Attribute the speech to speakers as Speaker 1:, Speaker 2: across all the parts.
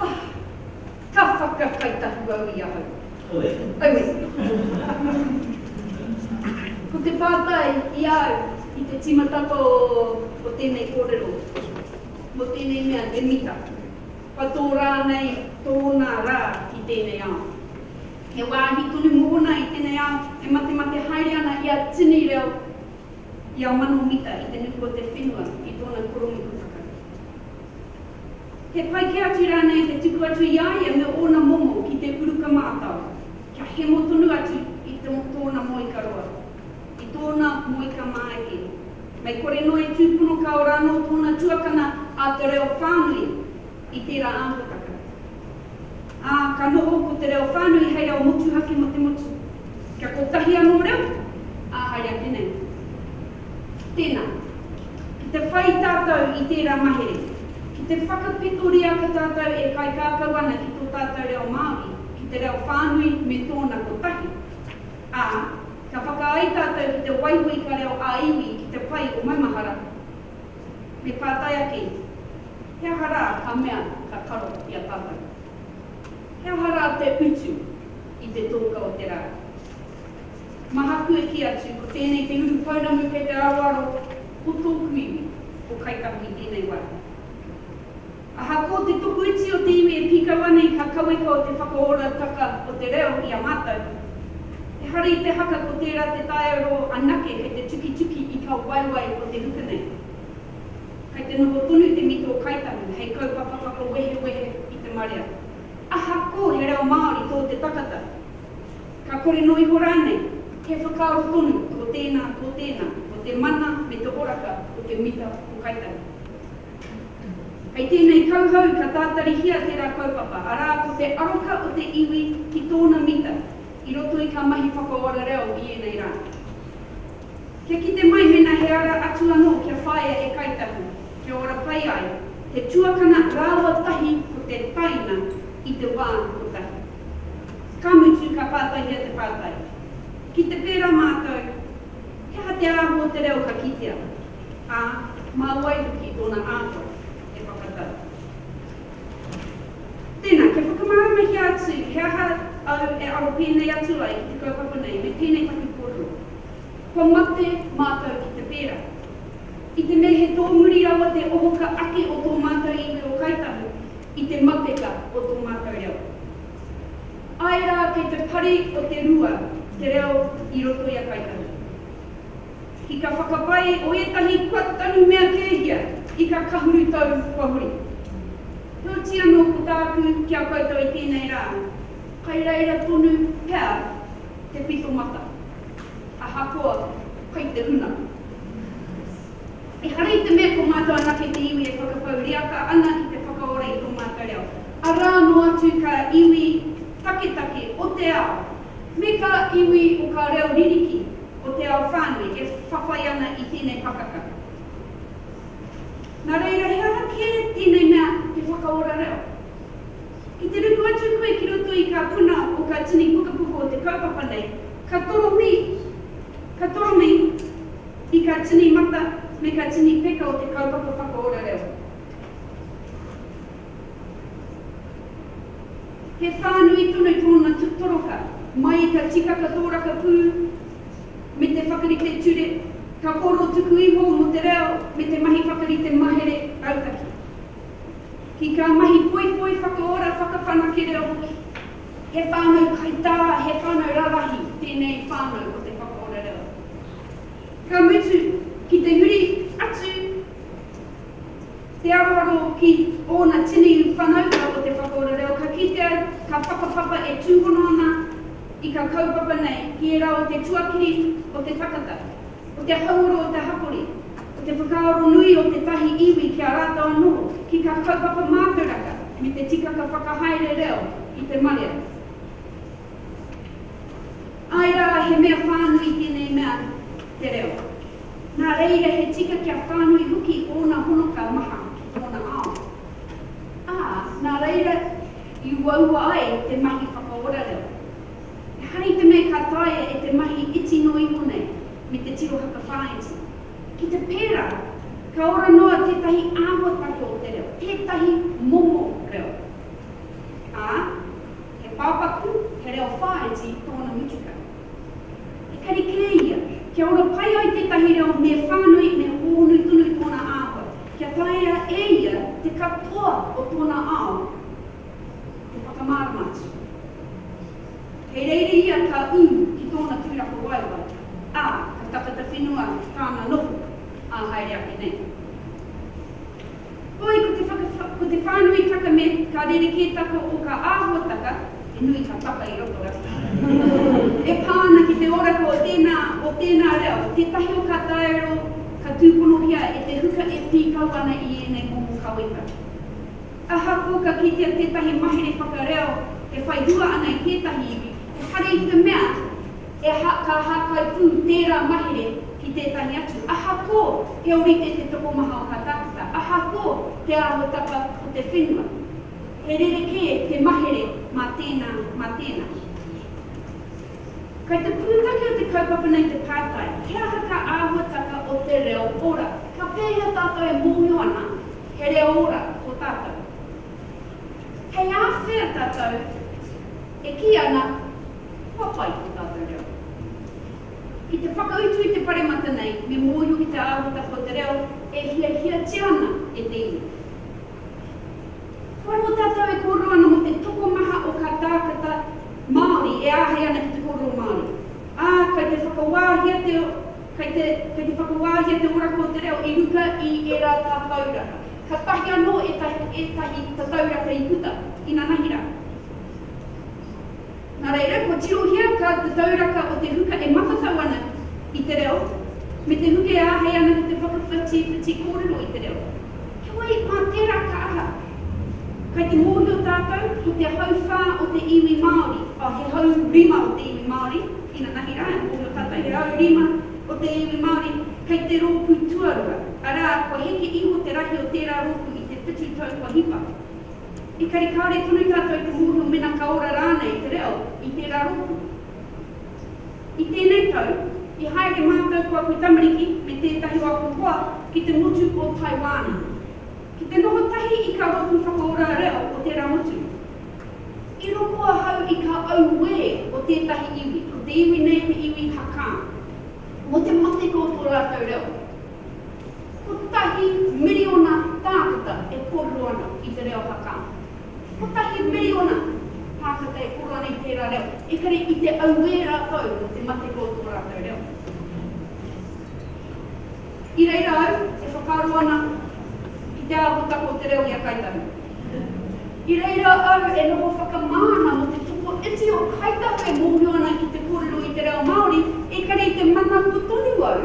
Speaker 1: Ah! Ka whakakai taku au i ahau. Aue. Aue. Ko te pātai i a au i te tīmatapa o tēnei kōrero, mō tēnei mea he mita, kua tō rānei tōna rā i tēnei ao? He wāhi tonu mōna i tēnei ao e matemate haere ana i a Tini Reo? ia mano mita i te nuku o te whenua i tōna koronuku whakahē. He pai kē atu rānei te tuku atu i a ia me ōna momo ki te uruka mātao, kia hemo tonu atu i tōna moika roa, i tōna moika māeke? Mei kore noa e tūpono kāore anō tōna tuakana a te reo whānui i tērā āhuatanga, ā, ka noho ko te reo whānui hei reo motuhake mō te motu, kia kotahi anō reo, ā hai ake nei. Tēnā, ki te whai tātou i tērā mahere, ki te whakapetoria ko tātou e kaikākau ana ki tō tātou reo Māori, ki te reo whānui me tōna kotahi, ā, ka whakaae tātou ki te waiho i ka reo ā-iwi ki te pai o maumahara. Me pātai ake ia, He aha rā ka mea ka karo i a tātou? He aha rā te utu i te tōka o te rā? Mahaku e kī atu, Ko tēnei te uru pounamu kei te aroaro o tōku iwi, ko Kaitahi tēnei wāhi. Ahakoa te tuku iti o te iwi e pīkau ana i kakaweka o te whakaorataka o te reo i a mātou, ehara i te haka ko tērā te taiaro anake kei te tukituki i kā waewae o te ruku nei. Kei te noho tonu te mito Kāi Tahu hei kaupapa whakawehewehe i te marea. Ahakoa he reo Māori tō te takata, ka kore noa iho rānei, he whakaaro tonu tō tēnā, tō tēnā, mō te mana me te oraka o te mita o Kāi Tahu. Hei tēnei kauhau ka tātarihia tērā kaupapa, arā, ko te aroka o te iwi ki tōna mita i roto i kā mahi whakaora reo i ēnei rā. Kia kite mai mēnā he ara atu anō kia whāia e Kāi Tahu, kia ora pai ai, te tuakana rāua tahi ko te taina i te wā kotahi. Ka mutu, ka pātaihia te pātai, ki te pērā mātou, he aha te āhua o te reo ka kitea? ā, mā wai hoki tōna āhua e whakatau. Tēnā, kia whakamarumahia atu he aha au e aro pēnei atu ai ki te kaupapa nei me tēnei take kōrero, kua mate mātou ki te pērā. I te mea he tōmuri rawa te ohoka ake o tō mātou iwi o Kāi Tahu i te mateka o tō mātou reo. Āe rā, kei te pari o te rua te reo i roto i a Kāi Tahu. I ka whakapai o etahi kua tanu mea kehia i ka kahuru tau kua huri. Heoti ano ko taaku ki a koutou i tenei ra, kai reira tonu pea te pito mata, ahakoa kai te huna. Ehara i te mea ko matou anake te iwi e whakapau riaka ana ki te whakaora i to matou reo, ara ano atu ka iwi taketake o te ao, me ka iwi o ka reo ririki, o te ao whānui e whawhai ana i tēnei pakaka. Nā reira, he aha kē tēnei mea te whakaora reo? Ki te ruku atu koe ki roto i kā puna o kā tini pukapuku o te kaupapa nei, ka toromi, ka toromi i kā tini mata me kā tini peka o te kaupapa whakaora reo. He whānui tonu tōna toroka mai i te tikaka tōraka pū me te whakarite ture, ka kōrero tuku iho mō te reo me te mahi whakarite mahere rautaki. Ki kā mahi poipoi whakaora whakawhanake reo hoki. He whānau kaitā, he whānau rarahi tēnei whānau o te whakaora reo. Ka mutu, ki te huri atu Te aroaro ki ōna tini whanaunga o te whakaora reo ka kitea ka whakapapa e tūhono ana i ka kaupapa nei ki ērā o te tuakiri o te takata, o te hauoro o te hapori, o te whakaaro nui o tētahi iwi ki a rātou anō, ki kā kaupapa mātauraka me te tikaka whakahaere reo i te marea. Āe rā, he mea whānui tēnei mea te reo. Nā reira he tika kia whānui hoki ōna honoka maha ki tōna ao. Ā, nā reira i uaua ai te mahi whakaora reo. Ehara i te mea ka taea e te mahi iti noa iho nei me te tirohaka whāiti. Ki te pērā, ka ora noa tētahi āhuatanga o te reo, tētahi momo reo. Ā, he pāpaku, he reo whāiti tōna mutuka. Ekari kē ia, kia ora pai ai tētahi reo me whānui, me hōhonu tonu tōna āhua, kia taea e ia te katoa o tōna ao te whakamārama atu. Kei reira ia ka ū ki tōna tūrakawaewae, ā, ka takata whenua tāna noho, ā, haere ake nei. Hoi, ko te whaka, ko te whānuitaka me ka rerekētaka o ka āhuataka, he nui ka taka i roto ra, e pā ana ki te oraka o tēnā, o tēnā reo, tētahi o kā taero ka tūponohia e te huka e pīkau ana i ēnei momo kaweka. Ahakoa ka kitea tētahi mahere whakareo e whai hua ana i tētahi iwi, ehara i te mea, He aha kā hākai pū tērā mahere ki tētahi atu? Ahakoa he ōrite te tokomaha o kā tākuta, ahakoa te āhuatapa o te whenua, he rerekē te mahere mā tēnā, mā tēnā. Kei te pūtake o te kaupapa nei te pātai, he aha kā āhuatapa o te reo ora? Ka pēhea tātou e mōhio ana he reo ora tō tātou? Hei āwhea tātou e kī ana. Kua pai tō tātou reo. Ki te whakautu i te paremata nei me mōhio ki te āhuatanga o te reo e hiahiatia ana e te iwi. Kua roa tātou e kōrero ana mō te tokomaha o kā tākata Māori e āhei ana ki te kōrero Māori, ā, kei te whakawāhia te kei te kei te whakawāhia te oraka o te reo i ruka i ērā tatauranga. Katahi anō ētahi ētahi tatauranga i puta, inanahi rā. Nā reira, kua tirohia kā te tauraka o te huka e matatau ana i te reo, me te huka e āhei ana ki te whakawhatiwhati kōrero i te reo. Heoi, mā tērā ka aha? Kai te mōhio tātou, ko te hauwhā o te iwi Māori, oh, he hau rima o te iwi Māori, inanahi rā, e mōhio tātou, he hau rima o te iwi Māori, kai te rōpū tuarua, arā, kua heke iho te rahi o tērā rōpū i te whitu tau kua hipa. Engari kāore tonu tātou i te mōhio mena ka ora rānei te reo i tērā rōpū. I tēnei tau, i haere mātou ko aku tamariki me tētahi o aku hoa ki te motu o Taiwana, ki te noho tahi i kā rōpū whakaora reo o tērā motu. I rongo ahau i kā auē o tētahi iwi, ko te iwi nei te iwi Hakka, mō te mateka o tō rātou reo. Kotahi miriona tākata e kōrero ana i te reo Hakka. Kotahi miriona tākata e kōrero ana i tērā reo, ekare i te auē rātou mō te matenga o tō rātou reo. I reira au e whakaaro ana i te āhuatanga o te reo i a Kāi Tahu. I reira au e noho whakamā ana mō te toko iti o Kāi Tahu e mōhio ana ki te kōrero i te reo Māori, ekare i te manawa tonu au,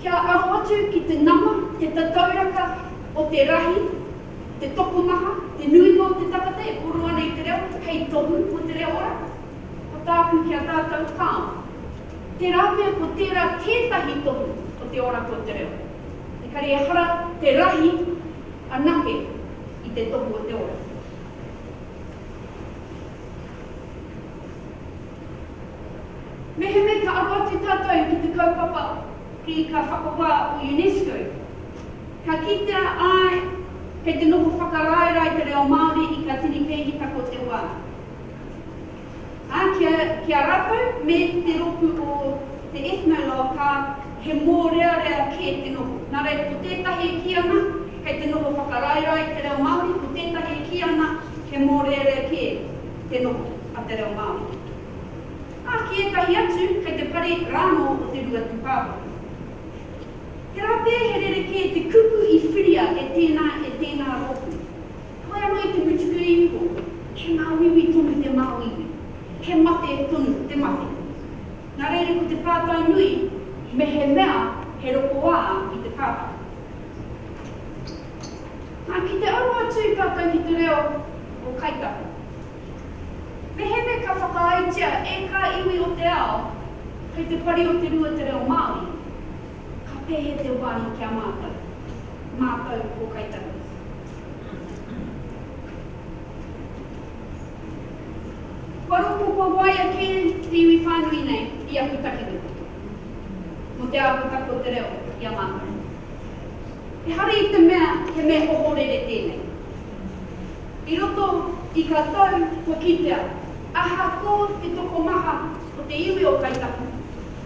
Speaker 1: Kia aro atu ki te nama, te tatauraka o te rahi, te tokomaha, te nuinga o te tangata e koro ana i te reo, hei tohu mō te reo ora. Ko tāku ki a tātou, kāo. Tērā pea ko tērā tētahi tohu o te oraka o te reo. Engari ehara te rahi anake i te tohu o te ora. Mehemea ka aroatu tātou ki te kaupapa Pīka Whakawā o UNESCO, ka kitea āe kei te noho whakaraerae te reo Māori i kā tini pēhitaka o te wā. Ā, ki a, ki a rātou me te rōpū o te Ethnologue ka, he mōrearea kē te noho. Nā reira, ko tētahi e kī ana kei te noho whakaraerae te reo Māori, ko tētahi e kī ana he mōrearea kē te noho. a te reo Māori. Ā, ki ētahi atu, kei te pare rānō o te rua tūpāpaku. He rā pea he rerekē te kupu i whiria e tēnā, e tēnā rōpū. Whai anō i te mutuku iho, he māuiui tonu te māuiui, he mate tonu te mate. Nā reira ko te pātai nui, mehemea he rokoā i te pātai. Nā, ki te aroha atu tātou ki te reo o Kaitaho, Mehemea ka whakaaetia e kā iwi o te ao kei te pari o te rua te reo Māori, ka pehe te wāhi ki a mātou, mātou ko Kaitaku. Kua roko, kua waia kē te iwi whānui nei i aku takiwiki mō te āhuataki o te reo i a mātou. Ehara i te mea he mea ohorere tēnei. I roto i ka tau kua kitea ahakoa te tokomaha o te iwi o Kāi Tahu,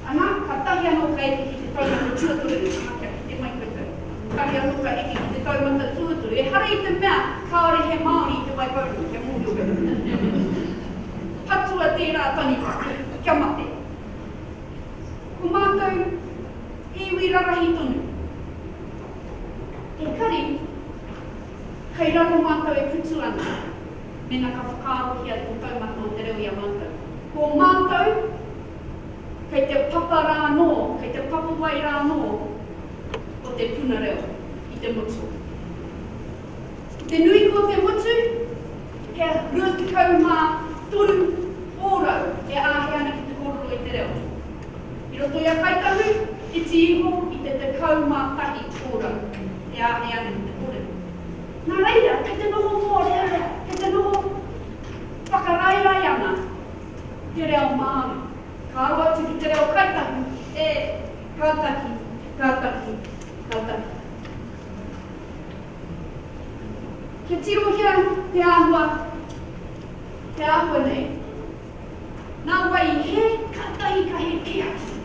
Speaker 1: ana, katahi anō ka eke ki te taumata tuatoru, ana, kia kite mai koutou, katahi anō ka eke ki te taumata tuatoru, ehara i te mea kāore he Māori i Te Waipounamu, kia mōhio koutou. Patua tērā taniwha, kia mate. Ko mātou he iwi rarahi tonu. Engari, Kei raro mātou e putu ana, mena ka whakaarohia tō taumata o te reo i a mātou. Ko mātou, kei te papa rā anō, kei te papawai rā anō o te puna reo i te motu. Ki te nui ko te motu, he 23 ōrau e āhei ana ki te kōrero i te reo. I roto i a Kaitahu, iti iho i te tekau mā tahi ōrau, e āhei ana ki te kōrero. Nā reira, kei te noho mōrearea, kei te noho whakaraerae ana te reo Māori. Ka aro atu ki te reo Kaitahu, e, ka taki, ka taki, ka taki. Kia tirohia te āhua, te āhua nei. Nā wai hē, kātahi ka hē kē atu.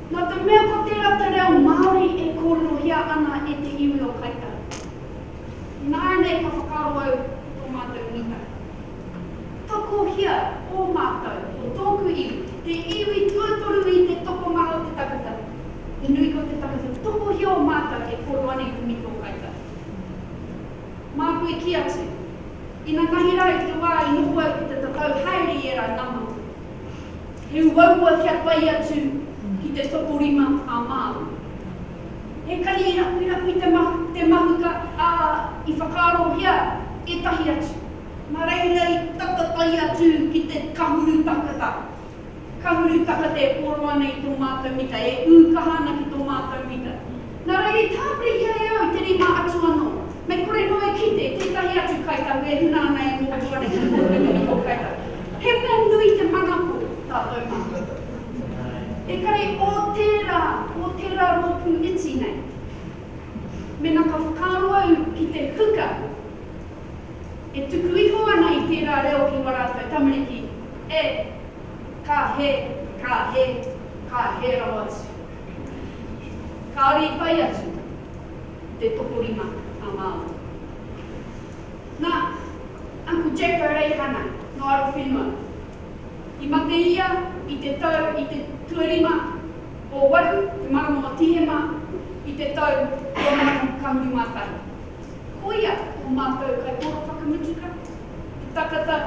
Speaker 1: Nō te mea ko tērā te reo Māori e kōrerohia ana e te iwi o Kaitara. Nāianei ka whakaaro au ki tō mātou mita. Tokohia ō mātou, ō tōku iwi, te iwi tuatoru i te tokonga o te tangata. He nui ko te tangata, tokohia ō mātou e kōrero ana i te mita o Kaitara. Māku i kī atu, Ina mahi rā i te wā i noho au ki te tatau haere i ērā nama. He uaua kia whai atu ki te tokorima a Māui. He kani i rapuirapu i te mahuka, ā, i whakaarohia ētahi atu. Nā reira i tata tahi atu ki te kahuru takata. Ka huru takata e pōro ana i tō mātou mita, e ū kaha ana ki tō mātou mita. Nā reira i tāpirihia e au i te rima atu anō, mei kore noa e kite tētahi atu Kāi Tahu e huna ana e mōhio ana ki te kōtuinga ki tō Kāi Tahu. He mea nui te mana ko tātou mātou. E kare o tērā, o tērā rōpū iti nei, mēnā ka whakaaro au ki te huka, E tuku iho ana i tērā reo ki wā rātou tamariki, e, ka he, ka he, ka he rawa atu. Kāore i whai atu te tokorima a Māui. Nā, Uncle Jack O'Reihana, nō Arowhenua. I mate ia i te tau, i te tuarima o waru te marama o Tīhema i te tau 2011. Koia o mātou kaitohu whakamutu ka. Te takata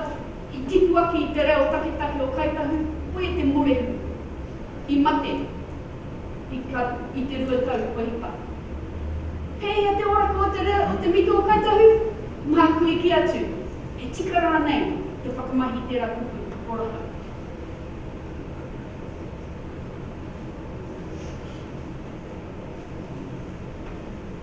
Speaker 1: i tipu ake i te reo takitahi o Kāi Tahu, koia te morehu i mate i ka i te rua tau kua hipa. Pēhea te oraka o te reo o te mito o Kāi Tahu? Māku i kī atu, he tika rānei te whakamahi i tērā kupu oraka.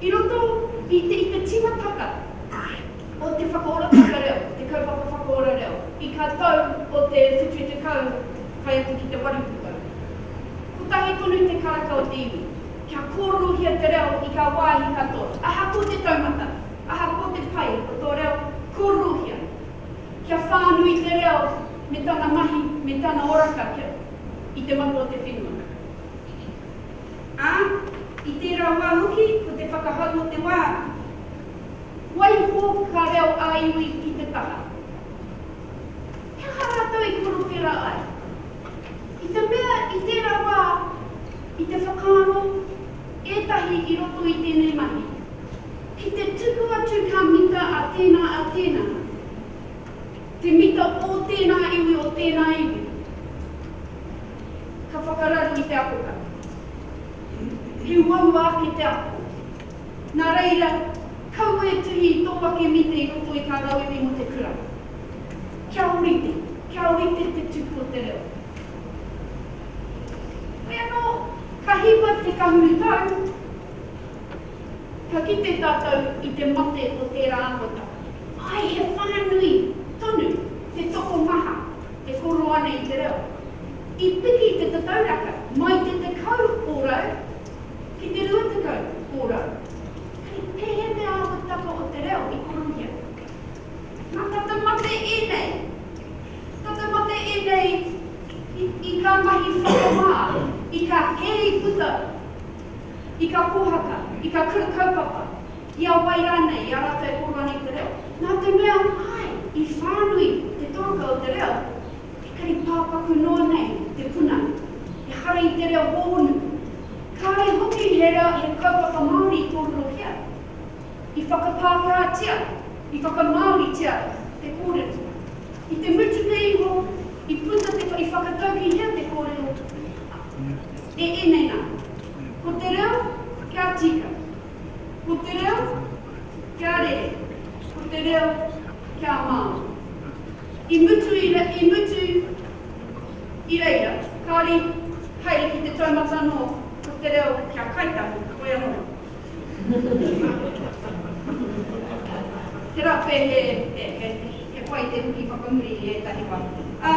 Speaker 1: I roto i te i te tīmatanga o te whakaorotanga reo, te kaupapa whakaora reo, i ka tau o te whitu i tekau tae atu ki te waru putau. Kotahi tonu te karaka o te iwi, kia kōrerohia te reo i ngā wāhi katoa, ahakoa te taumata, ahakoa te pai o tō reo, kōrerohia. Kia whānui te reo me tana mahi, me tana oraka kia, i te mata o te whenua. ā, i tērā wā hoki ko te whakahau o te wā. Waiho ngā reo ā-iwi i te taha. He aha rātou i korowhera ai? I te mea i tērā wā i te whakaaro ētahi i roto i tēnei mahi, ki te tuku atu ka mita a tēnā a tēnā, te mita ō tēnā iwi o tēnā iwi. Ka whakararu i te akoranga. He uaua ake te ako. Nā reira, kaua e tuhi i tō ake mita i roto i ngā rauemi mō te kura. Kia ōrite, kia ōrite te tupu o te reo. Hoi anō, ka hipa te kahuru tau, ka kite tātou i te mate o tērā āhuatanga. Āe, he whānui tonu te tokomaha He koroa nei te reo. I piki te tatauraka mai te tekau ōrau ki te rua tekau ōrau. Hei pēhea te āhuatanga o te reo i korohia? Nā tata mate ēnei. Tata mate ēnei i, i kā mahi whakamā, i kā hēri puta, i kā pōhaka, i kā kura kaupapa, I a wai rānei, i a rātou e koro ana i te reo? Nā te mea, āe, i whānui te tōka o te reo, ekari pāpaku noa nei te puna, ehara i te reo hōunu. Kāore hoki he reo, he kaupapa Māori i kōrerohia. I whakapākātia, i whakamāoritia te kōrero. I te mutunga iho, i puta te, i whakataukihia te kōrero, ā, e ēnei nā. Ko te reo, kia tika. Ko te reo, kia rere, ko te reo, kia Māori. I mutu i re, i mutu i reira, kāore i haere ki te taumata anō, ko te reo, kia Kaitahi, hoi anō. Tērā pea he, he, he, he pai te huki whakamuri i ētahi wā. Ā,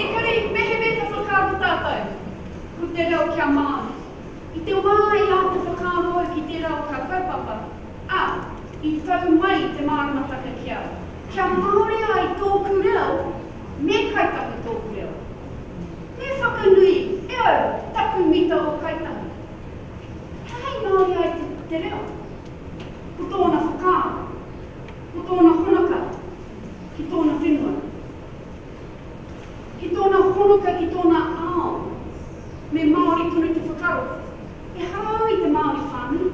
Speaker 1: engari, mehemea ka whakaaro tātou, ko te reo, kia Māori. I te wā i ahu te whakaaro hou ki tērā o kā kaupapa, a, i tau mai te māramataka kia, kia māori ai tōku reo me Kāi Tahu tōku reo. Me whakanui e au taku mita o Kāi Tahu. He hei māori ai te, te reo. Ko tōna whakaaro, ko tōna honaka ki tōna whenua. Ki tōna honotau, ki tōna ao, me Māori tonu te whakaaro, ehara au i te Māori whānui.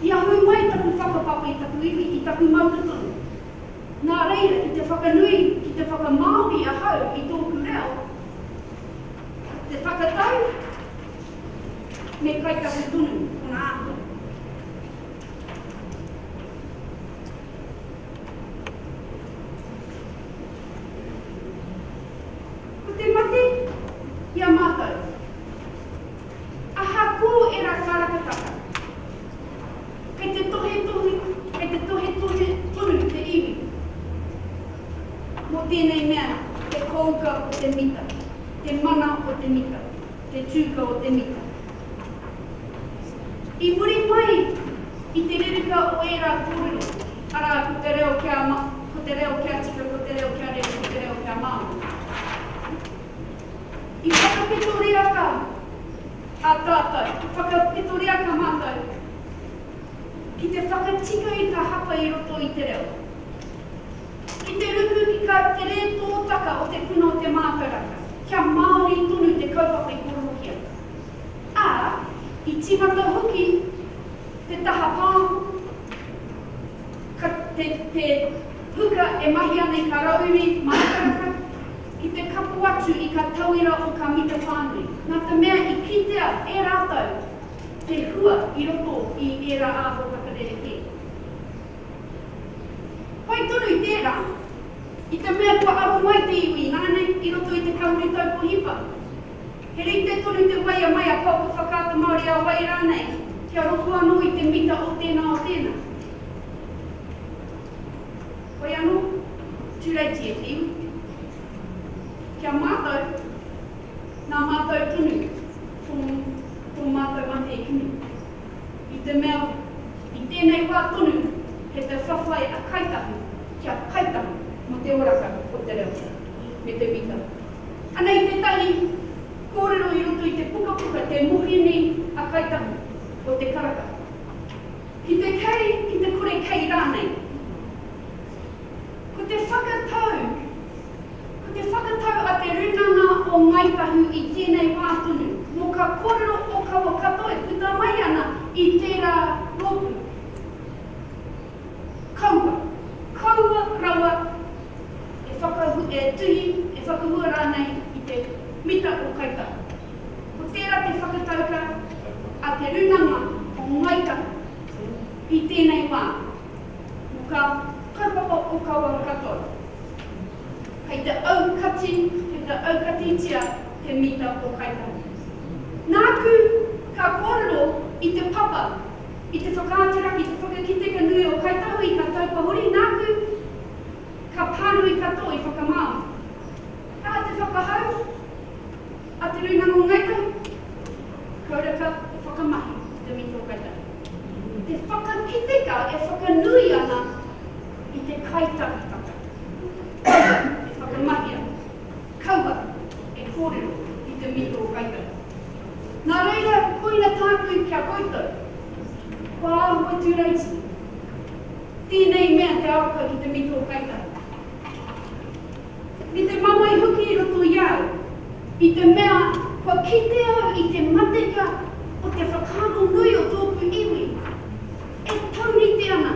Speaker 1: I ahu mai taku whakapapa i taku iwi, i taku matua tonu. Nā reira, ki te whakanui, ki te whakamāori ahau i tōku reo, te whakatau me kai taku tonu, tōna āhua. Ko te mate ki a mātou. Aha kō ērā kārakataka? Kei te tohetohe, kei te tohetohe tonu te iwi mō tēnei mea, te kōuka o te mita, te mana o te mita. te tūka o te mita. I muri mai i te reruka o ērā kōrero, arā, ko te reo kia ma, ko te reo kia tika, ko te reo kia rere, ko te reo kia māori. I whakapetoreaka a tātou, i whakapetoreaka mātou ki te whakatika i ngā hapa i roto i te reo. Ki te ruku ki kā te rē tōtaka o te puna o te mātauranga, kia Māori tonu te kaupapa i kōrerohia, ā, i tīmata hoki te taha pāho, ka, te, te huka e mahi ana i kā rauemi mātauranga, ki te kapo atu i kā tauira o kā mita whānui, nā te mea i kitea e rātou te hua i roto i ērā āhua whakarerekē. Pai tonu i tērā, i te mea kua aro mai te iwi ināianei i roto i te kāhui taupo hipa. He rite tonu te waia mai a Kaoko Whakaata Māori a Wai rānei kia rongo anō i te mita o tēnā o tēnā. Hoi anō, tūreiti e te iwi. Ki a mātou, nā mātou tonu tō mātou mate i kimi. I te mea, i tēnei wā tonu, he te whawhai a Kaitahu kia kaitahu mō te oraka o te reo, me te mita. Anei tētahi kōrero i roto i te pukapuka Te Mohini a Kaitahu o Te Karaka. Ki te kei, ki te kore kei rānei. Ko te whakatau. Ko te whakatau a te Rūnanga o Ngāi Tahu i tēnei wā tonu, mō kā kōrero ōkawa katoa e puta mai ana i tērā rōpū, kaua, kaua rawa e whakahu, e tuhi, e whakahua rānei i te mita o Kāi Tahu. Ko tērā te whakatauka a te Rūnanga o Ngāi Tahu i tēnei wā, mō kā kaupapa ōkawa katoa. Kei te aukati, kei te aukatitia he mita tō kaitangi. Nāku, ka kōrero i te papa, i te whakaatu raki, i te whakakite ka nui ō kaitahui, ka taupa huri, nāku, ka pānui katoa i whakamāori. Ā te whakahau, a Te Rūnanga o Ngāi Tahu, kua reka te whakamahi i te mita o kaitangi. Te whakakiteka e whakanui ana. i te kaitaketake kaua e whakamahia, kaua e kōrero i te mihi o kaiwera. Nā reira, koina tāku ki a koutou, kua āhua tūraiti tēnei mea te aroka ki te mihi o kaitahi, me te mamae hoki i roto i a au, i te mea kua kite au i te mateka o te whakaaro nui o tōku iwi e taurite ana.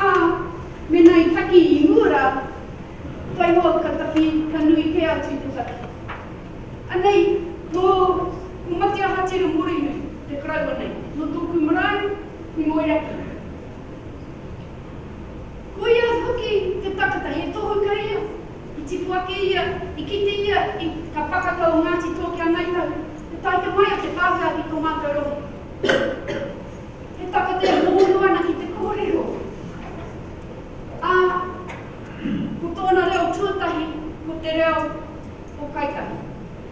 Speaker 1: Ā, mēnā i taki i mua rā, waihoa ka taki, ka nui kē atu te taki. Anei, nō Komati Ahatira Morinui te karaua nei, nō tōku marae i Moeraki. Koia hoki te takata, he tohu kei ia, i tipu ake ia, i kite ia i Ka Pakaka o Ngāti Toa ki a Ngāi Tahu, e taea mai a te Pākehā ki tō mātou rongo. He taka te hono ana ki te kōrero, ā, ko tōna reo tuatahi ko te reo o Kaitahi,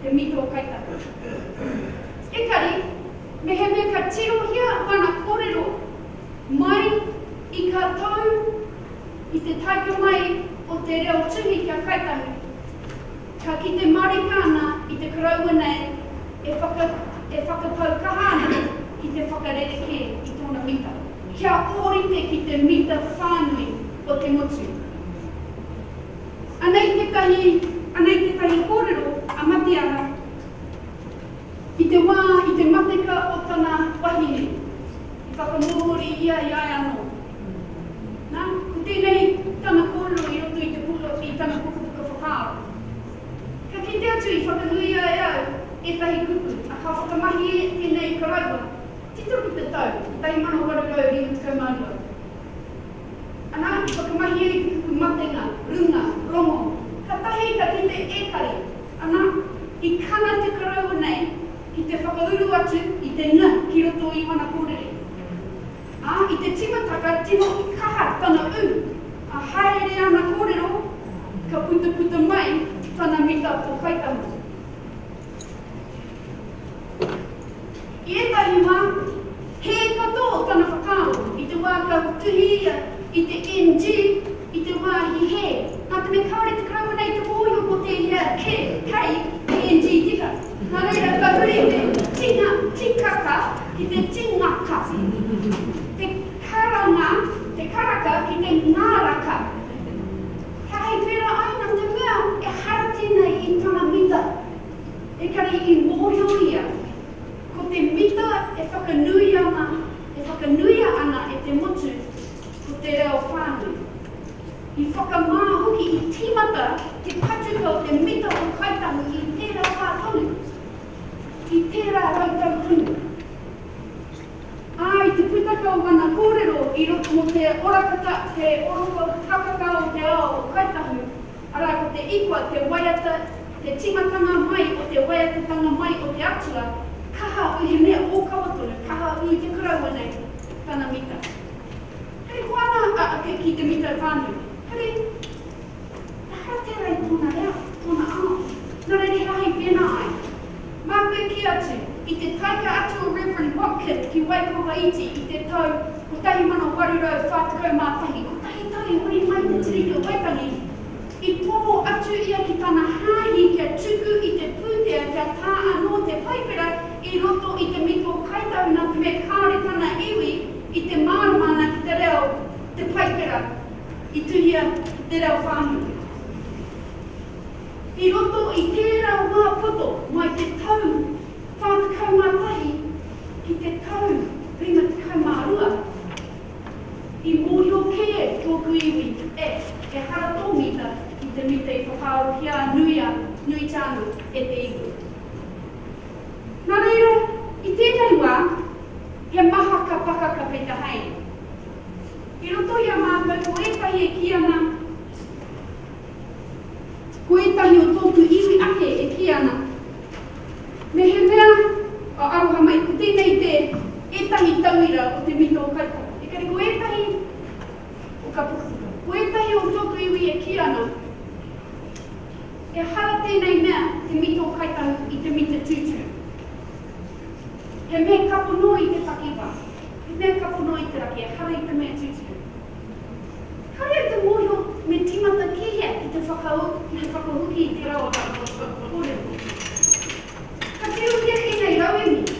Speaker 1: te mito o Kaitahi. Ekari, mehemea ka tirohia ana kōrero mai i ka tau i te taika mai o te reo tuhi ki a Kaitahi, Ka kite marika ana i te karaua nei e whakatau kaha ana ki te whakarerekē i tōna mita, kia ōrite ki te mita whānui o te motu. Anei tētahi kōrero a Mateara i te wā i te mateka o tana wahine, i whakamōhori ia i ai anō. Nā, ko tēnei tana kōrero i roto i te pūro, i tana pukapuka whakaaro. Ka kite atu i whakanuia e au ētahi kupu, ā, ka whakamahi ēnei i karaua, tito ki te tau 1852. Anā, i whakamahi ai te kupu matenga, runga, rongo, kātahi ka kite ētahi, anā, i kana te karaua nei ki te whakauru atu i te nga ki roto i wana kōrere. Ā, i te timataka tino kaha tana ū, ā, hāereere ana kōrero, ka putaputa mai tana mita pōkaitanga. I ētahi wā, hē katoa tana whakaaro i te wā ka tuhi ia i te NG i te wāhi hē, nā te mea kāore te Karauna i te mōhio mō tēhea kē hei NG tika. Nā reira kua huri te tinga tikaka ki te tinga kati, te karanga, te karaka ki te ngāraka. He hei pērā ai nā te mea ehara tēnei i tana mita, ekari i mōhio ia ko te mita e whakanui ana, e whakanuia ana e te motu, ko te reo whānui. I whakamā hoki i tīmata te patuka o te mita o Kāi Tahu i tērā wā tonu, i tērā rautau tonu. Ā, i te putaka o ana kōrero i roto mō te orakata, te oroko takaka o te ao o Kāi Tahu, arā, ko te ikwa te waiata, te tīmatanga mai o te waiatatanga mai o te Atua, kaha ū he mea ōkawa tonu, kaha ū te karaua nei, tana mita. Hei hoana a Ake ki te mitai whānui, Huri! Ehara tērā i tōna reo, tōna ao. Nō reira he aha i pēnā ai? Mā koe kī atu, i te taika atu o Reverend Watkin ki Waikawaiti i te tau 1841, kotahi tau i huri mai te Tiriti o Waitangi, i poho atu ia ki tana hāhi kia tuku i te pūtea kia tā anō te Paipera i roto i te mito Kaitahuna me kāore tana iwi, I te mārama ana ki te reo te Paipera i tuhia ki te reo whānui. I roto i tērā wā poto mai te tau whā tekau mā tahi ki te tau rima tekau mā rua, i mōhio kē tōku iwi e ehara tō mita ki te mita i whakaarohia a Nuia, Nuitāna, e te iwi. Nā reira, i tēnei wā, he maha ka paka ka peita hei. I roto i a mātou ko ētahi e kī ana, ko ētahi o tōku iwi ake e kī ana, mehemea a aroha mai, ko tēnei te ētahi tauira o te mito o Kaitara. Engari ko ētahi o ka pukapuka, ko ētahi o tōku iwi e kī ana, Ehara tēnei mea te mito kaitahu i te mita tūturu. He mea ka pono i te takiwā, he mea ka pono i te raki, ehara i te mea tūturu. Kāore au te mōhio me tīmata ki hea ki te whakaū, ki te whakahoki i tērā o rātou kōrero. Ka tirohia ēnei rauemi.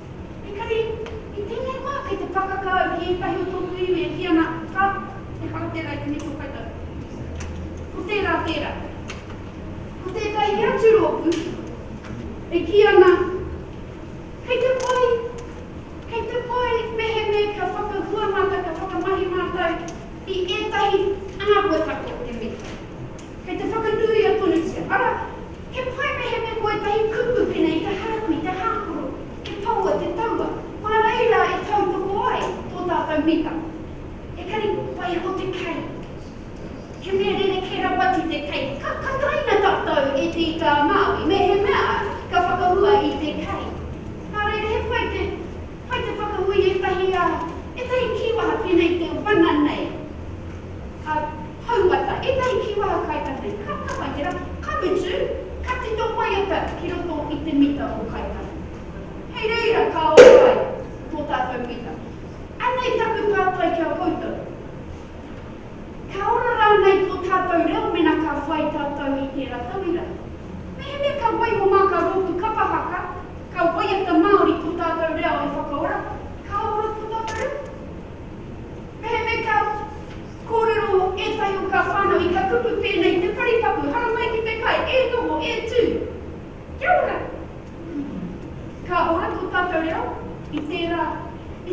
Speaker 1: Engari, i tēnei wā, kei te pakaka au ki ētahi o tōku iwi e kī ana, Rā, ehara tērā i te mito kaimahi. Ko tērā tērā. Ko tētahi atu rōpū e kī ana, Kei te pai, kei te pai mehemea kia whakahua mātou, kia whakamahi mātou i ētahi āhuatanga o te mito. Kei te whakanui a Tonutia, ara, he pai mehemea ko ētahi kupu pēnei i te haraku, i te hākoro, te paua, te taua, kua reira e tautoko ai tō tātou mita. Ekari kua pai anō te kei. He mea rerekē rawa atu te kei. Ka, ka taina tātou e te ika a Māui mehemea ka whakahua i te kei. Nā reira, he pai te, pai te whakahui ētahi, ā, ētahi kīwaha pēnei i te wana nei. Ā. Hauata, ētahi kīwaha Kaitahi, ka tama i te rā, ka mutu, ka tito waiata ki roto i te mita o Kaitahi. Hei reira ka ora ai tō tātou mita. Anei taku pātai ki a koutou, Ka ora rānei tō tātou reo mēnā ka whai tātou i tērā tauira? Mehemea ka waiho mā, ka rōpū kapa haka, ka waiata Māori tō tātou reo e whakaora, ka ora tō tātou reo? Mehemea ka. Kōrero mō ētahi o kā whānau i ka kupu tēnei te paritapu haramai ki te kai e noho e tū. Kia ora! Ka ora tō tātou reo i tērā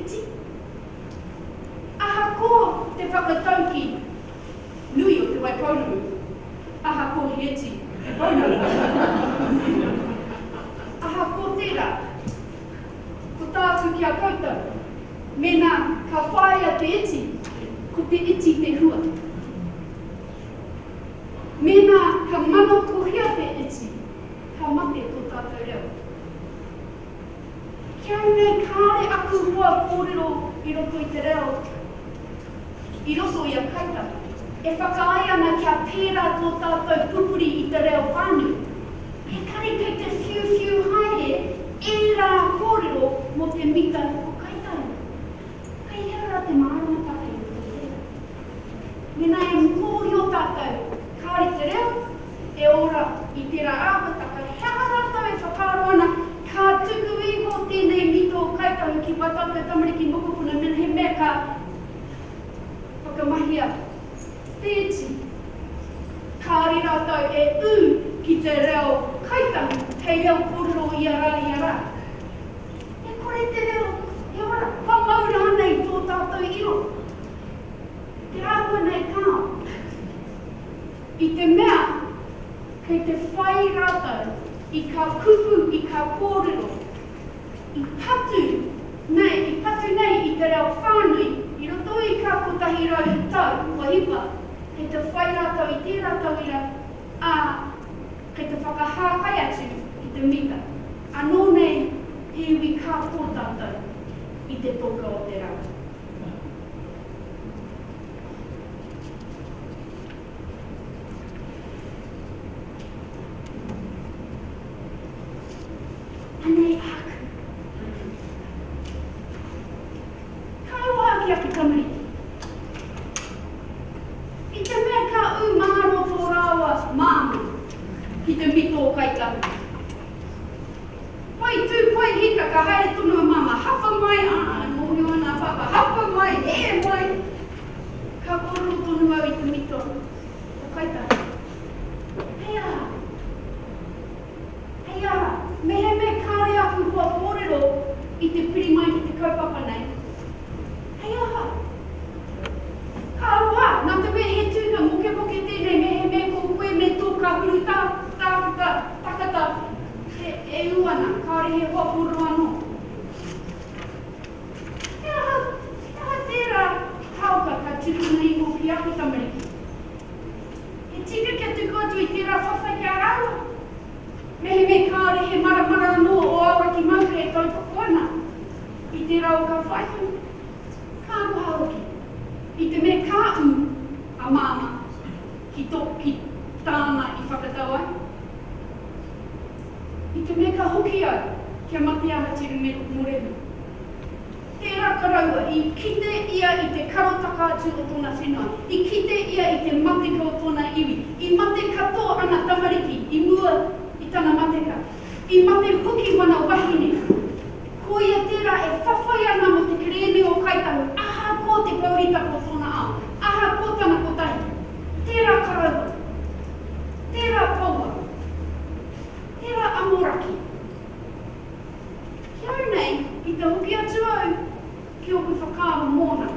Speaker 1: iti. Aha kō te whakatauki nui o Te Waipounamu? Aha kō Hieti Te Pounamu? Aha kō tērā? Ko tāku ki a koutou, mēnā ka whāia te iti, ko te iti te hua. Mēnā ka manakohia te iti, ka mate tō tātou reo. Ki au nei kāre aku hoa kōrero i roto i te reo. I roto i a Kaitahi. E whakaae ana kia pērā tō tātou pupuri i te reo whānui. He kare kei te whiuwhiu haere ērā kōrero mō te mita o Kaitahi. Kei hea rā te māramataka i roto i reira? Mēnā e mōhio tātou kāore te reo e ora i tērā āhuataka, he aha rātou e whakaaro ana ka tuku iho tēnei mita o Kaitahi ki wā tātou tamariki mokopuna mēnā he mea ka Whakamahia, Tēti. Kāore rātou e ū ki te reo Kaitangi hei reo kōrero i a rā, i a rā. E kore te reo, e ora, kua mau rānei tō tātou iro. Te āhua nei kāo. I te mea, kei te whai rātou i kā kupu, i kā kōrero, i patu nei, i patu nei i te reo whānui i roto i kā 100 tau kua hipa, kei te whai rātou i tērā tauira, ā, kei te whakahākai atu i te mita. Anō nei he iwi kā tō tātou i te toka o te rā. Anei āku rauemi. Ka rongo au ki aku tamariki. I te mea ka ū mangaro tō rāua māmā ki te mito o Kaitahu. Whai tū, whai hika ka haere tonu a māmā, hapa mai, ā, e mōhio ana a pāpā, hapa mai, hē mai. Ka kōrero tonu au i te mito o Kaitahu. He aha? Hei ara, mehemea kāre aku hoa kōrero i te piri mai ki te kaupapa nei, hei aha? Ka aroha, nā te mea he tūnga mokemoke tēnei mehemea ko koe me tō kahuru tā, tāku tā, takata e, e ū ana, kāore he hoa kōrero anō. He aha, he aha tērā haoka ka tukuna iho ki aku tamariki? He tika kia tuku atu i tērā whawhai ki a rāua. Mehemea kāore he maramara anō ō awa ki Maunga e tautoko ana i tērā o ka whaihu, ka aroha hoki, i te mea ka ū a Māmā ki tō, ki tāna i whakatau ai, i te mea ka hoki au kia mate ahatia i Morehu. Tērā karaua, i kite ia i te karotaka atu o tōna whenua, i kite ia i te mateka o tōna iwi. I mate katoa ana tamariki i mua i tana mateka. I mate hoki wana wahine. Ko ia tērā e whawhai ana mō te kerēme o Kāi Tahu ahakoa te pouritaka o tōna ao, ahakoa tana kotahi. Tērā karaua. Tērā poua. Tērā amoraki. Heoi nei, i te hoki atu au ki oku whakaaro mōna,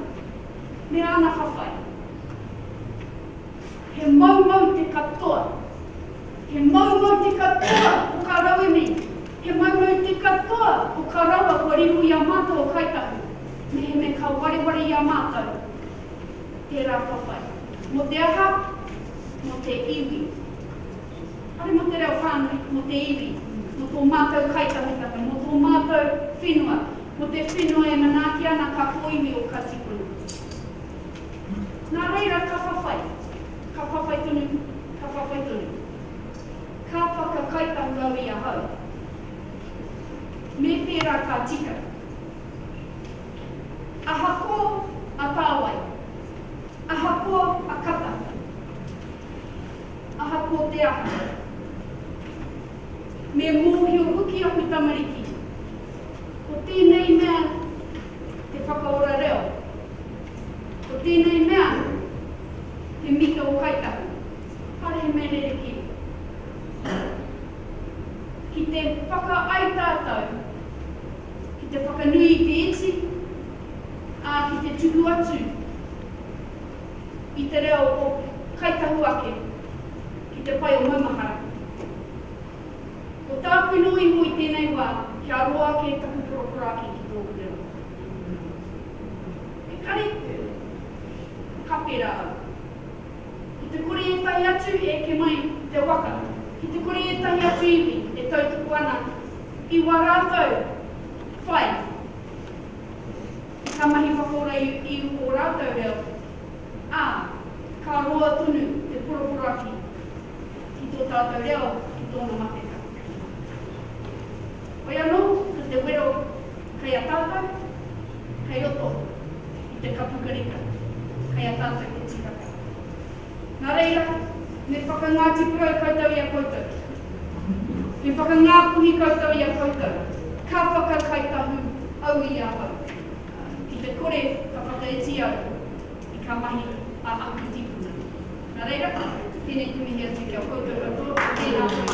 Speaker 1: me ana whawhai. He moumou te katoa. He moumou te katoa o kā rauemi, he moumou te katoa o kā raua kua riro i a mātou o Kāi Tahu, mehemea ka wareware i a mātou tērā whawhai. Mō te aha? Mō te iwi. Whare mō te reo whānui, mō te iwi, mō tō mātou kaitangitanga, mō tō mātou whenua, mō te whenua e manaaki ana kā kōiwi o kā tipuna. Nā reira ka whawhai, ka whawhai tonu, ka whawhai tonu. Ka whakakaitahu au i ahau. Me pērā ka tika. Ahakoa a Tāwai, ahakoa a Kata. Aha ko te aha? Me mōhio hoki aku tamariki, ko tēnei mea te whakaora reo, ko tēnei mea te mita o Kāi Tahu, kāre he mea rerekē. Ki te whakaae tātou ki te whakanui i te iti, ā, ki te tuku atu. i te reo o Kai Tahu Ake ki te pae o maumahara. Ko tāku nō iho i tēnei wā kia roa ake taku poroporoaki ki tōku reo. Ekari, ka pērā au. Ki te kore ētahi atu e eke mai i te waka, ki te kore ētahi atu iwi e tautoko ana i wā rātou whai, Ka mahi whakaora i ū ō rātou reo, ā, ka roa tonu te poroporoaki ki tō tātou reo ki tōna mateka. Whai anō ko te wero kei a tātou, kei roto i te kapukarika, kei a tātou te tikaka. Nā reira, me whakangāti kau koutou i a koutou. Me whakangāpuhi koutou i a koutou, ka whakakai tahu au i ahau, ki te kore ka whakaiti au i kā mahi a aku tīpuna. Nā reira, tēnei te mihi atu ki a koutou katoa, tēnā koe